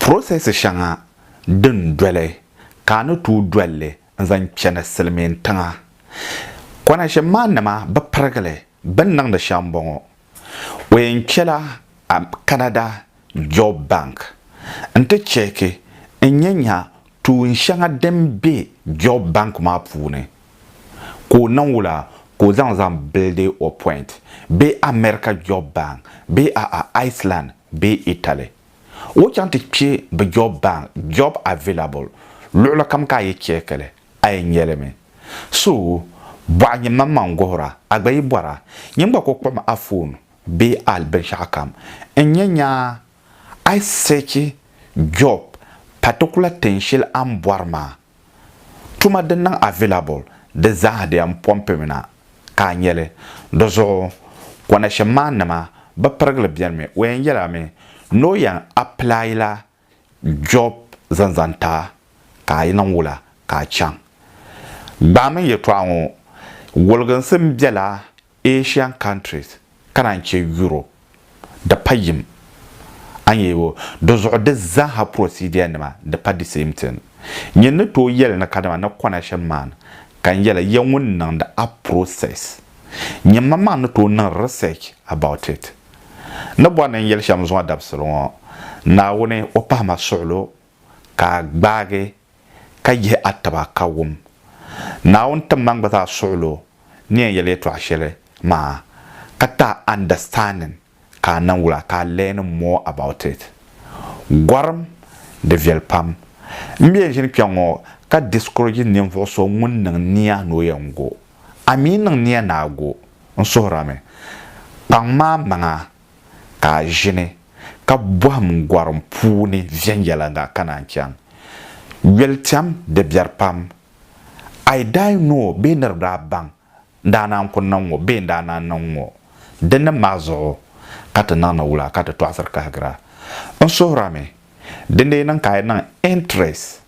Process shɛŋa din doli ka a ni tooi doli li n zaŋ chani silimiin tiŋa. Kɔnashim maa nima bi pirigili bini niŋdi shɛm n bɔŋɔ. O yɛn kpela Canada Job Bank n ti cheeki n nya nya tuun shɛŋa din be Job Bank maa puuni ka o niŋ wula ka o zaŋ zaŋ buildi o point bee America Job Bank bee a'a Iceland bee Italy. O chaŋ ti kpe bɛ job bank, job available, luɣili kam ka a yi check li, a yɛn nya li mi. So, bɔɣa nyin man man guhira, a gba yi bɔra, nyin gba ku kpuɣim a phone bee a binshɛɣu kam n-nya nyaa a yi search job particular tin shɛli a ni bɔri maa. Tuma din niŋ available di zaaha di yɛn pɔmpi mi na ka a nya li. Di zuɣu connection man nima bi pirigili beni mi o yɛn yɛla mi ni o yɛn apply la job zaŋ zaŋ ti a ka a yi niŋ wula ka a chaŋ. Gbaami n yɛtɔɣa ŋɔ woliginsi m bela Asian countries ka naan chɛ Europe di pa yim a ni yɛli o di zuɣu di zaaha procedure nima di pa di same thing nyin ni tooi yɛli ni kadama ni connection man ka n yɛli ya ŋun niŋdi a process nyin man maa ni tooi niŋ research about it ni bɔri ni n yɛli shɛm zuŋɔ dabisili ŋɔ Naawuni o pahi ma suɣilo ka a gbaagi ka yihi a taba ka wum Naawuni tiŋgbani gba zaa suɣil o ni yɛn yɛli yɛtɔɣ shɛli maa, ka ti a understanding ka a niŋ wula ka a learn more about it. Gɔrim, di viɛli pam. M be ʒini kpɛŋŋɔ ka discourage ninvuɣ so ŋun niŋ nia ni o yɛn go. A mi niŋ nia ni a go? N suhirami. Kpaŋ maa maŋa Ka a ʒini ka bɔhim gɔrim puuni viɛnyɛliŋga ka naan chaŋ yolitɛm di biɛri pam. A yi daa yi ni o bee niriba daa baŋ n daa naan ku niŋ ŋɔ bee n daa naan niŋ ŋɔ. Dinnim maa zuɣu ka ti niŋdi wula ka ti tɔɣisiri kahigira? N suhirimi, dindee niŋ ka a yi niŋ interest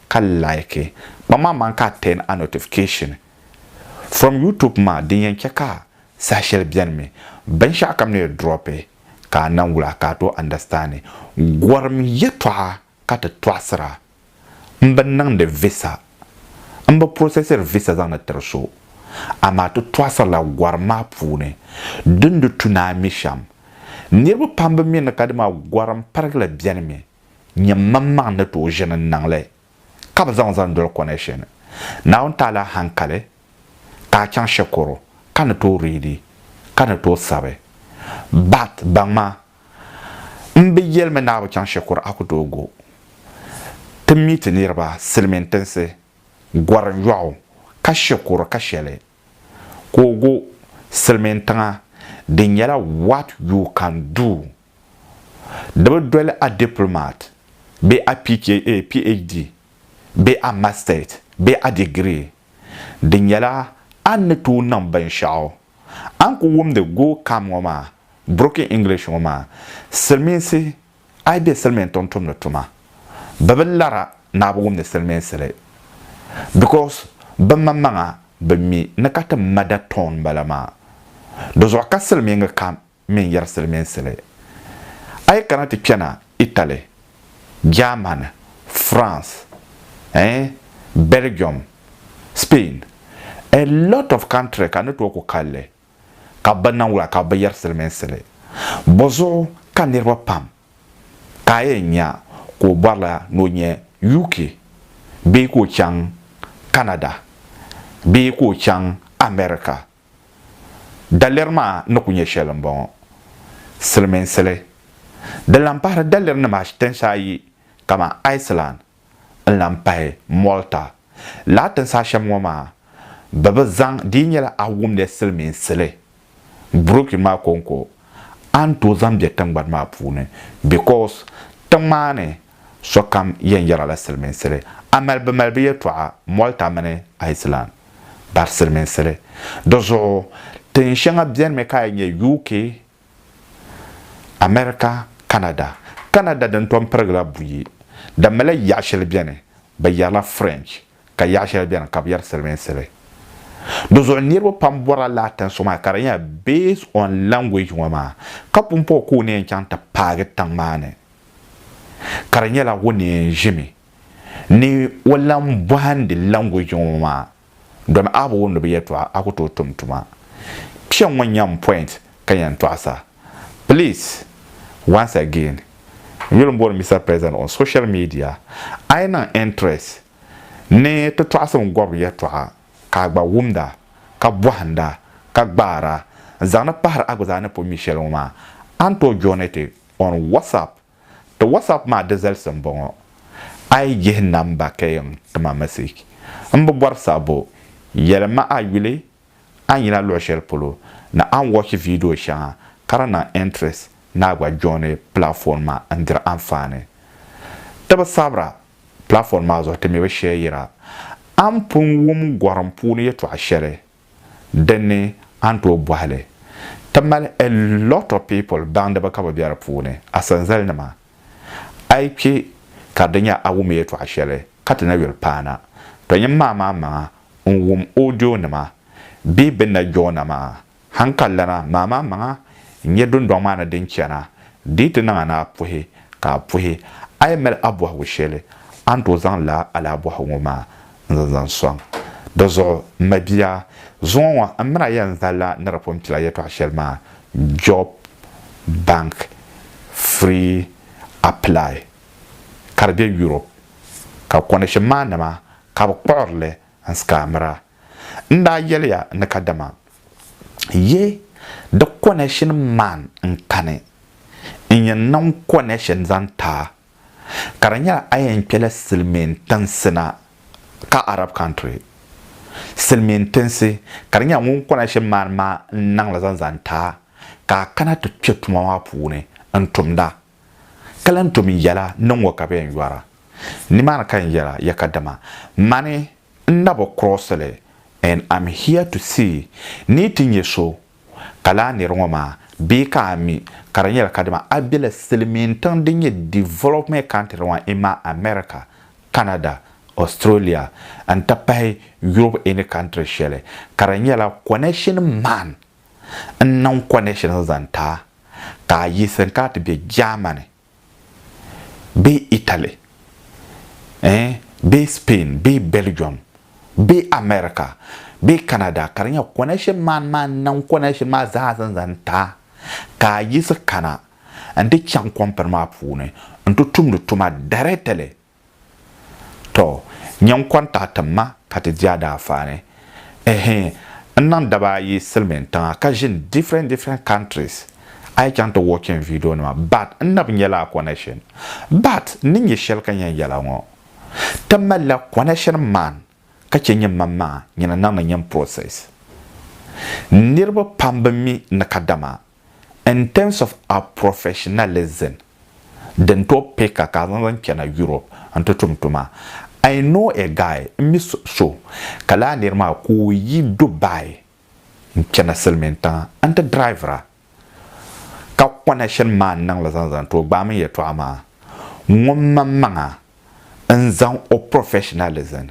ka like kpam maa man ka a turn a notification from YouTube maa din yɛn chɛ ka saha shɛli beni mi binshɛɣu kam ni drop ka a naŋ wul a ka a tooi understand gorim yɛtɔɣa ka ti tɔɣisira m bi niŋdi visa m bi processiri visa zaŋdi tiri so amaa ti tɔɣisirila gorim maa puuni din di tu ni a mi shɛm niriba pam bi mi ni ka dama gorim pirigili beni mi. Nyam maŋmaŋ ni tooi ʒini n-niŋ li ka bɛ zaŋ zani doli connection. Naawuni ti a la hankali ka a chaŋ shikuru ka ni tooi readi ka ni tooi sabi. But baŋma m bi yeli mi ni a bi chaŋ shikuru a ku tooi go. Ti meet niriba silimiin tinsi, Gorim yɔɣu, ka shikuru ka sheli ka o go silimiin tiŋa di nyɛla what you can do. Di bi doli a diplomat bee a PhD bee a masters bee a degree. Di nyɛla a ni tooi niŋ binshɛɣu. A ni ku wumdi go kam ŋɔ maa, broken English ŋɔ maa, silimiinsi a yi be silimiin tiŋ tumdi tuma, bɛ bi lara ni a bi wumdi silimiinsi li because bɛ maŋmaŋa bi mi ni ka ti mada tone m-bala maa. Di zuɣu ka silimiingi kam mini yɛri silimiinsili. A yi kana ti kpɛna Italy, Germany, France, eh, Belgium, Spain, a lot of country ka ni tooi ku kalli ka bɛ niŋ wula ka bɛ bi yɛri silimiinsili. Bɔzuɣu ka niriba pam ka a yɛn nya ka o bɔrila ni o nyɛ UK bee ka o chaŋ Canada bee ka o chaŋ America? Daliri maa ni ku nyɛ shɛli m-bɔŋɔ, silimiinsili. Di lan pahiri dalirinima tinsi ayi kamani Iceland n-lan pahi Malta. Lala tinsi ashɛm ŋɔ maa bɛ bi zaŋ di yi nyɛla a wumdi silimiinsili brochure maa kɔŋko a ni tooi zaŋ be tiŋgbani maa puuni because tiŋ maa ni Sokam yɛn yɛra la siliminsili amalibimalibu yɛtɔɣa Malta mini Iceland bari siliminsili. Di zuɣu tin shɛŋa bɛnimi ka a yi nya UK, America, Canada. Canada din tom pirigila buyi di mila yaɣ shɛli bɛni bɛ yɛrila French ka yaɣ shɛli bɛni ka bɛ yɛri siliminsili. Di zuɣu niriba pam bɔrila laa tin so maa ka di nyɛla based on language ŋɔ maa ka pumpɔŋɔ ka o ni yɛn chaŋ ti paagi tiŋ maa ni ka di nyɛla o ni yɛn ʒimi ni o lan bɔhindi language ŋɔ maa domi a bi wumdi bɛ yɛltɔɣa a ku tooi tum tuma. Kpɛŋŋɔ n-nyɛ m point ka yɛn tɔɣisa. Please, once again, n yuli m-booni Mister President on social media, a yi niŋ interest ni ti tɔɣisim gɔbiri yɛltɔɣa ka a gba wumda ka bɔhinda ka gbaara n-zaŋdi pahiri a gba zaa ni pun mi shɛli ŋɔ maa, a ni tooi joini ti On WhatsApp, Ti WhatsApp maa di zalisi m bɔŋɔ, a yi yihi namba ka yɛn ti ma message, m bi bɔri sabbu, yɛli ma a yuli a ni yina luɣ shɛli polo ni a ni watch video shɛŋa ka di niŋ interest ni a gba joini platform maa n-diri anfaani. Ti bi sabira platform maa zuɣu ti mi bi share yira. A ni pun wum gɔrim puuni yɛtɔɣ shɛli dinni a ni tooi bɔhi li ti mali a lot of people baŋdiba ka bi be di puuni asanzali nima a yi kpe ka di nya a wum yɛltɔɣa shɛli ka ti na yuli paana to nyini maa maa maŋa n wum audio nima bee bini na jɔɔna maa han ka lana maa maa maŋa n nya dundɔŋ maa ni din chana di yi ti niŋ a ni a puhi ka a puhi a yi mali a bɔhigu shɛli a ni tooi zaŋ laa alaabɔhi ŋɔ maa n zaŋ zaŋ sɔŋ. Di zuɣu, m mabia, zuŋɔ ŋɔ m mini a yɛn zali la ni di pun kpila yɛtɔɣ shɛli maa, Job Bank Free Apply, ka di be Europe, ka kɔndishin maa nama ka bɛ kpuɣiri li n scammir a. N daa yɛli ya ni kadama yi di kɔnɛshin man n kani n yɛn niŋ kɔnɛshin zaŋ ti a. ka di nyɛla a yɛn kpɛla silimiin tinsi na ka Arab country silimiin tinsi ka di nyɛla ŋun kɔna shɛm maani maa n naŋla zaŋ zaŋ ti a ka a kana ti kpɛ tuma maa puuni n tumda ka lan tom n yɛla ni ŋɔ ka bɛ yɛn yɔra nimaani ka n yɛla ya ka dama mani n na bi kurɔɔsili and am here to see ni ti nyɛ so Ka lala nir ŋɔ maa, bee ka a mi ka di nyɛla kadama a bela silimiin tiŋ din nyɛ development country ŋɔ imaa America, Canada, Australia n ti pahi Europe any country shɛli ka di nyɛla connection man n niŋ connection zaŋ ti a ka a yiɣisiri ka a ti be Germany bee Italy eh bee Spain bee Belgium bee America bee Canada ka di nyɛ connection maa ni maa niŋ connection maa zaa zaŋ zaŋ ta ka a yiɣisi kana n ti chaŋ company maa puuni n ti tumdi tuma directly Tɔ! Nyɛ n kɔŋ tahi tim ma ka ti di a daafaani. Ɛhɛɛ, n niŋ daba ayi silimiin tiŋa ka ʒini different different countries. A yi chaŋ ti watching video nima but n nabi nyɛla a connection. But n ni nyɛ shɛli ka yɛn yɛla ŋɔ, ti malila connection man ka chɛ nyɛ man maŋa nyina niŋdi nyini process. Niriba pam bi mi ni kadama In terms of our professionalism din tooi pay ka ka a zaŋ zaŋ chana Europe n ti tum tuma. I know a guy, n mi so ka lala niri maa ka o yi Dubai n chana silimiin tiŋa n ti drivira ka connection maa n niŋli zaŋ zaŋ ti o gbaai mini yɛltɔɣa maa ŋun maŋmaŋa n zaŋ o professionalism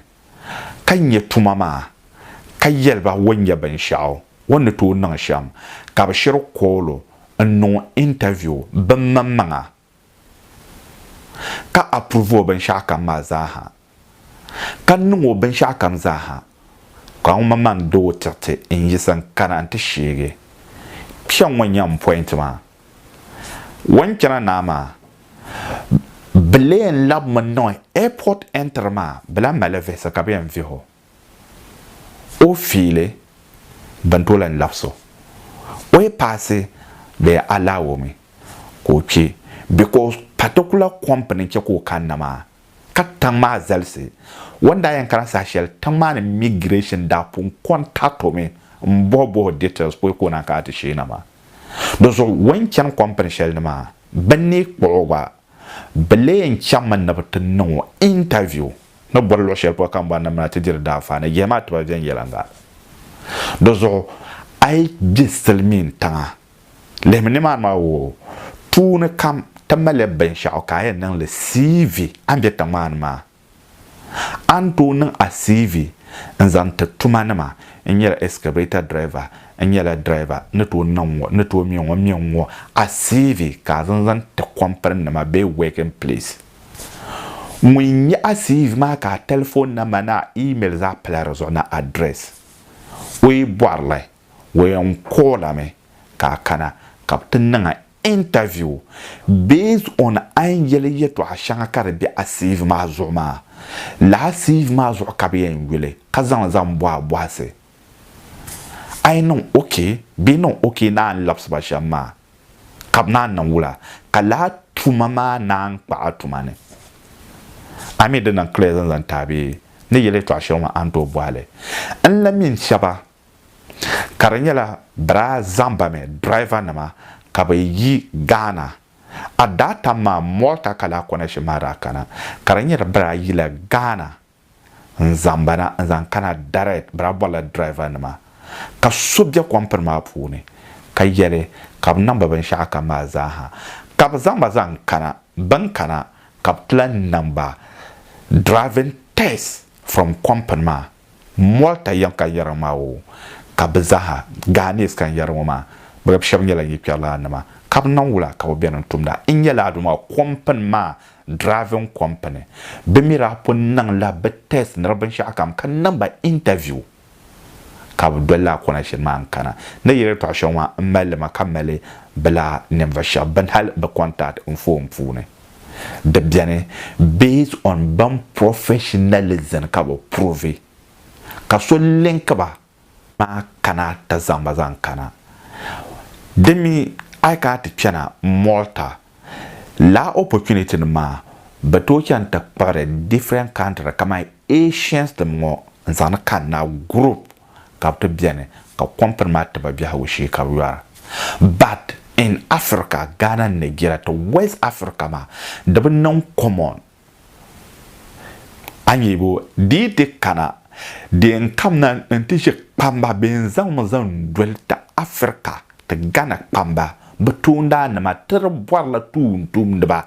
ka nya tuma maa, ka yɛli ba o nya binshɛɣu o ni tooi niŋ shɛm, ka bɛ shiri kool o n-niŋ o interview bimaŋmaŋa, ka approve o binshɛɣukam maa zaaha, ka niŋ o binshɛɣukam zaaha, ka ŋun maŋmaŋ doo ti ti n-yiɣisi n-kana nti sheegi kpiɔŋ ŋɔ nya m point maa. Wunchana naa maa bi leen labimi n niŋ airport entry maa bi lahi mali visa ka bi yɛn vihi o o fiili bin tooi lahi labisi o o yi paasi bee a allow mi ka o kpi because particular company n chɛ ka o kanna maa ka tiŋ maa zalisi o ni daa yɛn kana saha shɛli tiŋ maa ni migration daa pun contact o mi m bɔhi bɔhi o details pɔi ka o naan kana ti sheei na maa. Di zuɣu o ni chani kɔmpini shɛli ni maa, bɛ ni kpuɣi o gba, bɛ lee yɛn chaŋmi ni bɛ ti niŋ o intaviu ni bɔri luɣ shɛli polo ka ni bɔri ni bɛ na ti diri daanfaa ni jɛma tiba viɛnyɛliŋga. Di zuɣu a yi be silimiin tiŋa, lihimi nimaani maa woo, tuuni kam ti malila binshɛɣu ka a yɛn niŋ li CV a ni be tiŋ maa ni maa. A ni tooi niŋ a CV n zaŋ ti tuma nima, n nyɛla excavator driver, n nyɛla driver, ni tooi niŋ ŋɔ, ni tooi mɛ ŋɔ, mɛ ŋɔ a CV ka a zaŋ zaŋ ti company nima bee working place. Ŋun nya a CV maa ka a telephone number ni a email zaa pala di zuɣu ni address, o yi bɔri li, o yɛn call a mi ka a kana ka bɛ ti niŋ a Interview, Based on a ni yeli yɛtɔɣa shɛŋa ka di be a CV maa zuɣu maa, lala CV maa zuɣu ka bɛ yɛn yuli ka zaŋ li zaŋ bɔhi a bɔhisi. A yi niŋ ok bee niŋ ok naan labisi ba shɛm maa ka bɛ naan niŋ wula ka lala tuma maa naan kpa a tuma ni. A mi di niŋ clear zaŋ zaŋ ti a bee ni yeli yɛtɔɣa shɛli ŋɔ a ni tooi bɔhi li. N la mini shɛba ka di nyɛla biraa zaŋbami driver nima ka bɛ yi Ghana at that time maa Malta ka laa connection maa daa kana ka di nyɛla biraa yila Ghana n zaŋbana n zaŋ kana direct biraa bɔrila driver nima ka so bɛ company maa puuni ka yɛli ka bɛ niŋba binshɛɣu kam maa zaa ha ka bɛ zaŋba zaŋ kana bɛn kana ka bɛ ti lan niŋba driving test from company maa Mɔri ta yɛŋ ka yɛriŋ maa o ka bɛ zaaha, Ghanese ka n yɛri ŋɔ maa, bɛ gba shɛba nyɛla nyɛ kpɛrilana nima ka bɛ niŋ wula ka bɛ beni n tumda. N nyɛla Aduma company maa driving company. Bɛ mi daa pun niŋ la bɛ test ni di binshɛɣu kam ka niŋ ba interview ka bɛ doli lala kɔna shɛli maa n kana. Ni yi yɛltɔɣa shɛŋa maa m mali li mi ka mali bɛ lala ninvuɣu shɛba bɛn hali bɛ contact n phone puuni. di beni based on ban professionalism ka bɛ prove ka so link ba maa kana ti zaŋ ba zaŋ kana. Di mi a yi kana ti kpɛna Malta lala opportunity nim maa bɛ tooi chani ti kpuɣiri different country kamani Asians nim ŋɔ n zaŋ ni kanna group. ka bɛ ti beni ka kompini maa ti ba biɛhigu shee ka bɛ yɔra. But in Africa, Ghana ni Nigeria ti West Africa maa di bi niŋ common. A nya bo? Di yi ti kana di yɛn kamina n-ti ʒe kpamba bee n-zaŋ mi zaŋ doli ti Africa ti Ghana kpamba bɛ toondaannima ti di bɔrila tuuntumdiba.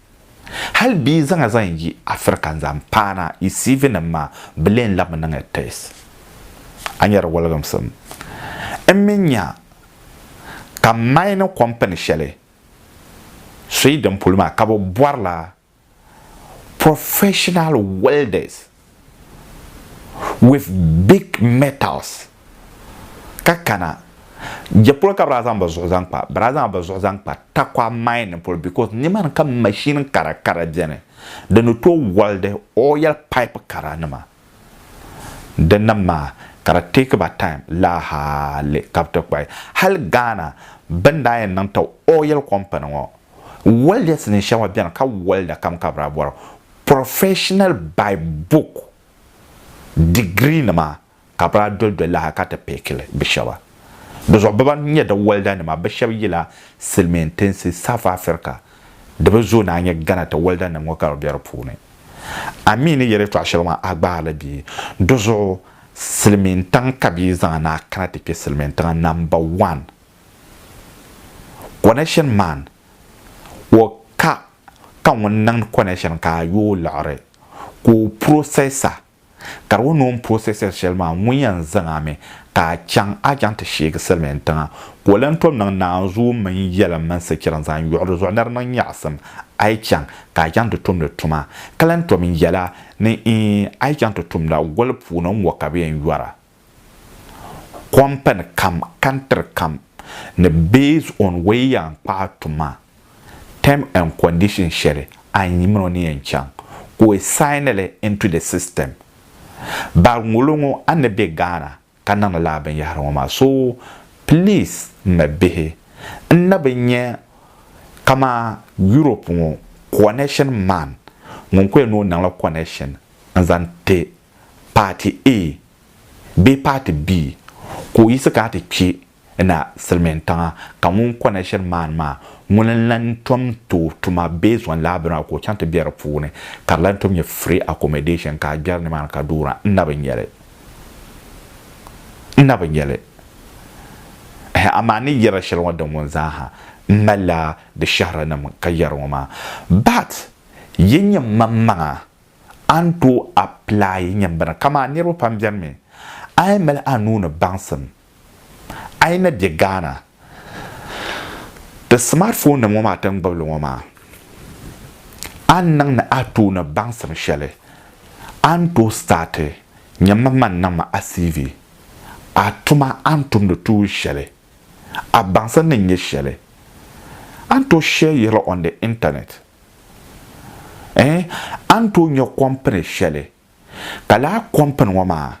Hali bɛ yi zaŋ a zaŋ yi Afirika n-zaŋ paana yi CV nim maa, bɛ lee labi mi niŋya test. A nya di wɔliginsim? N mi nya ka mining company shɛli Sweden polo maa ka bɛ bɔrila professional welders. with big metals ka kana jɛ polo ka bɛ daa zaŋ bɛ zuɣu zaŋ kpa bɛ daa zaŋla bɛ zuɣu zaŋ kpa takwa mining polo because nimani ka machine kara kara beni di ni tooi wɔlidi oil pipe kara nima dinni maa ka di take ba time laa hali ka bɛ ti kpayi hali Ghana bini daa yɛn niŋ ti oil company ŋɔ wɔlidɛsi ni shɛŋa beni ka wɔlida kam ka bɛ daa bɔra Professional by book degree nima ka bi daa doli doli li ha ka ti pɛɛkili bi shɛba. Di zuɣu bɛ ban nyɛ di walda nima bɛ shɛba yila silimiin tinsi South Africa di bi zooi naan nyɛ Ghana ti walda nim ŋɔ ka bi be di puuni. A mi ni yi yɛlitɔɣa shɛli maa a gbaari li bee? Di zuɣu silimiin tiŋ ka bɛ zaŋ a ni a kana ti kpɛ silimiin tiŋa number one connection man. o ka ka ŋun niŋdi connection ka a yooi liɣiri ka o processor ka di ŋuni o ni processor shɛli maa ŋun yɛn zaŋ a mi ka a chaŋ a chaŋ ti sheegi silimiin tiŋa ka o lan tom niŋ naanzuu mini yɛlim mini sichira n zaŋ yuɣi di zuɣu ni di niŋ nyaɣisim a yi chaŋ ka a chaŋ ti tumdi tuma ka lan tom yɛla ni a yi chaŋ ti tumda goli puuni n-ŋɔ ka bɛ yɛn yɔra. company kam, country kam ni based on way yan kpahi tuma term and condition shɛli a ni yi mini o ni yan chaŋ ka o sign li into the system. Bari ŋolo ŋɔ a ni be Ghana ka niŋdi lala binyahiri ŋɔ maa so please m ma bihi n na bi nya kaman Europe ŋɔ connection man ŋun ko yɛn ni o niŋla connection n zaŋ ti paati A bee paati B ka o yiɣisi kana ti kpe na silimiintiŋa ka ŋun kɔna shiri maani maa ŋuni n-lan tom tooi tuma based on lab draw ka o chaŋ ti be di puuni ka di lan tom nyɛ free accommodation ka a gbɛri nimaani ka duura n na bi nya li n na bi nya li ɛhɛh amaa n ni yɛri shɛli ŋɔ din ŋun zaa ha n malila di shɛhirinim ka yɛri ŋɔ maa but yi nya mmaŋmaŋa A ni tooi apply nyambana kaman niriba pam beni mi a yi mali a nuu ni baŋsim a yi na be Ghana ti smart phone nim ŋɔ maa ti ni gbubi li ŋɔ maa a ni niŋ ni a tooi ni baŋsim shɛli a ni tooi start nyɛ man man niŋ ma a CV a tuma a ni tumdi tuuli shɛli a baŋsim ni nyɛ shɛli a ni tooi share yirili on the internet. Ɛɛn, a ni tooi nya kɔmpini shɛli, ka lala kɔmpini ŋɔ maa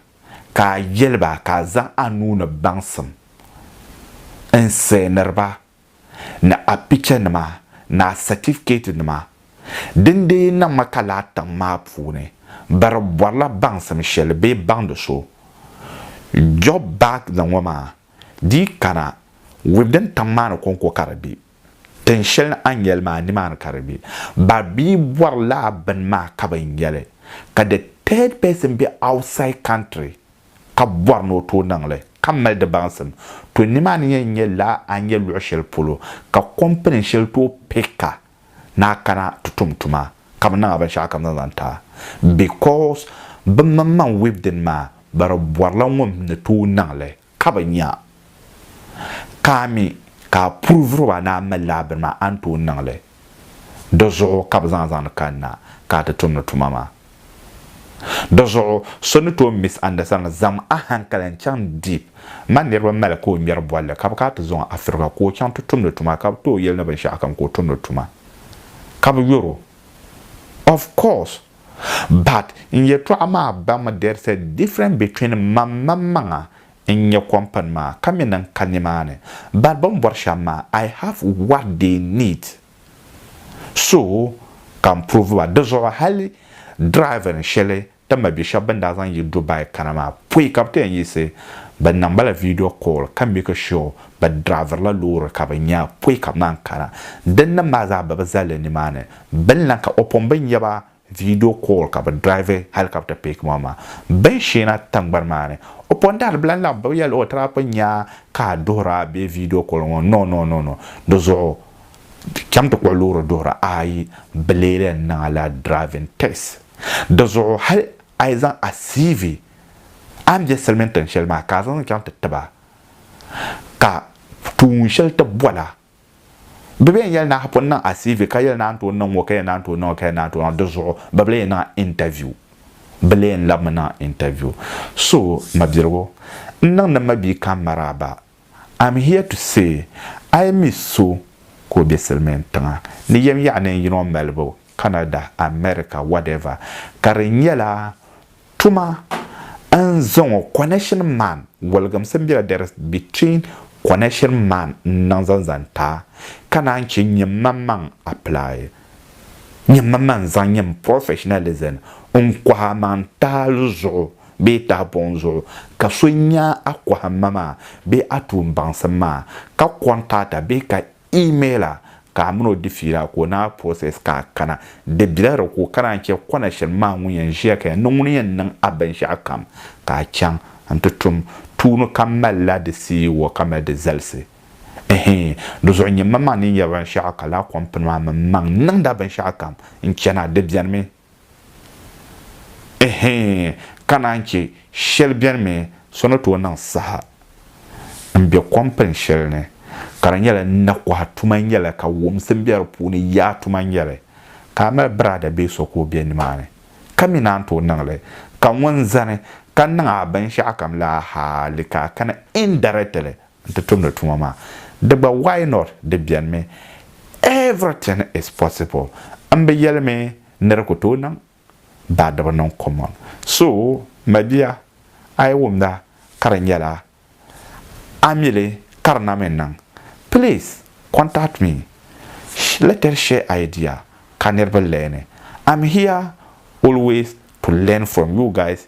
ka a yɛli ba ka a zaŋ a nuu ni baŋsim n sɛɛniri ba ni a pichanima ni a satifikɛtinima din dee yi niŋ ma ka lala tiŋ maa puuni bɛ di bɔrila baŋsim shɛli bee baŋdi so Joburg ni ŋɔ maa di yi kana wibdin tiŋ maa ni kɔŋko ka di be. Tin shɛli ni a ni yɛli maa, nimaani ka di be. Ba bia bɔri lala bini maa ka bɛ yɛli ka the third person be outside country ka bɔri ni o tooi niŋ li ka mali di baŋsim. To nimaani yɛn nyɛ lala a ni yɛ luɣ shɛli polo ka company shɛli tooi pick a ni a kana ti tum tuma ka bɛ niŋ a binshɛɣu kam zaŋ zaŋ ti a because bɛ maŋmaŋ wibdin maa bɛ di bɔrila ŋun ni tooi niŋ li ka bɛ nya ka a mi ka a puri vuri ba ni a mali lala bini maa, a ni tooi niŋ li. Di zuɣu ka bɛ zaŋ zaŋdi kanna ka a ti tumdi tuma maa. Di zuɣu so ni tooi misunderstand zaŋm a hankali n-chaŋ deep ma niriba mali ka o ŋmɛri bolli ka bɛ kana ti zaŋ o Africa ka o chaŋ ti tumdi tuma ka bɛ tooi yɛli ni binshɛɣukam ka o tumdi tuma ka bɛ yɔr o. Of course! But n yɛtɔɣa maa baŋmi there is a difference between mam man maŋa n nyɛ company maa ka mi ni n ka nimaani but bɛ ni bɔri shɛm maa I have what they need so ka n prove ba di zuɣu hali driving shɛli din ma bɛ shɛba bɛ ni daa zaŋ yi Dubai kana maa pɔi ka bɛ ti yɛn yiɣisi bɛ niŋ ma la video call ka make sure bɛ driviri la loori ka bɛ nya pɔi ka bɛ naan kana din nim maa zaa bɛ bi zali nimaani Bini lan ka o pun bi nya ba video call ka bɛ drive helicopter pick ma maa. Bini shee na tiŋgbani maa ni, o pun dahiri bɛ lan laɣim bibi ya luɣi tira pun nya ka a duhiri a bee video call ŋɔ no no no no di zuɣu cham ti kpuɣi loori duhira ayi bɛ lee lan niŋ a la driving test di zuɣu hali a yi zaŋ a CV a ni be silimiin tiŋ shɛli maa ka a zaŋ chaŋ ti ti ba ka tuun shɛli ti bɔla Bibia n yɛli ni a pun niŋ a CV ka yɛli ni a ni tooi niŋ ŋɔ ka yɛn naan tooi niŋ o ka yɛn naan tooi niŋ di zuɣu bɛ bi lee niŋ a interview bɛ lee n labimi niŋ a interview so mabiligu n niŋdi mabia kam maraaba I'm here to say a yi mi so ka o be silimiin tiŋa ni yɛm yaɣa neen yino malibu Canada America whatever ka di nyɛla Tuma n za ŋɔ connection man waligimsi n bela there is between connection man n niŋ zaŋ zaŋ ta ka naan che n nyɛ man maŋ apply nyɛ man maŋ zaŋ nyɛ m professionalism n kɔhi a maŋ tahali zuɣu bee tahibuŋ zuɣu ka so nya a kɔhimma maa bee a tuumbaŋsim maa ka contact a bee ka Email a ka a mini o di fiila ka o ni a process ka a kana. Di bela di ko ka naan chɛ kɔna shɛli maa ŋun yɛn ʒiya ka yɛn ni ŋuni yɛn niŋ a binshɛɣu kam ka a chaŋ n-ti tum tuuni ka malila di CEO ka mali di zalisi. Ɛhii, di zuɣu nyɛ mmaŋmaŋ ni n yɛri binshɛɣu ka laa kɔmpini maa mini mmaŋ niŋd a binshɛɣu kam n-chana, di benimi. Ɛhɛɛn, ka naan chɛ shɛli beni mi so ni tooi niŋ saha m-be kɔmpini shɛli ni ka di nyɛla nakɔha tuma n-nyɛli ka wumsi m-be di puuni yaa tuma n-nyɛli ka a mali biraada bee so ka o be nimaani ka mi naan tooi niŋ li ka ŋun zani ka niŋ a binshɛɣukam la hali ka a kana indirectly n ti tumdi tuma maa di gba why not di beni mi everything is possible m bi yeli mi ni di ku tooi niŋ baa di bi niŋ common so mabia a yi wumda ka di nyɛla a mili ka di na mi niŋ please contact me let us share idea ka niriba learn I'm here always to learn from you guys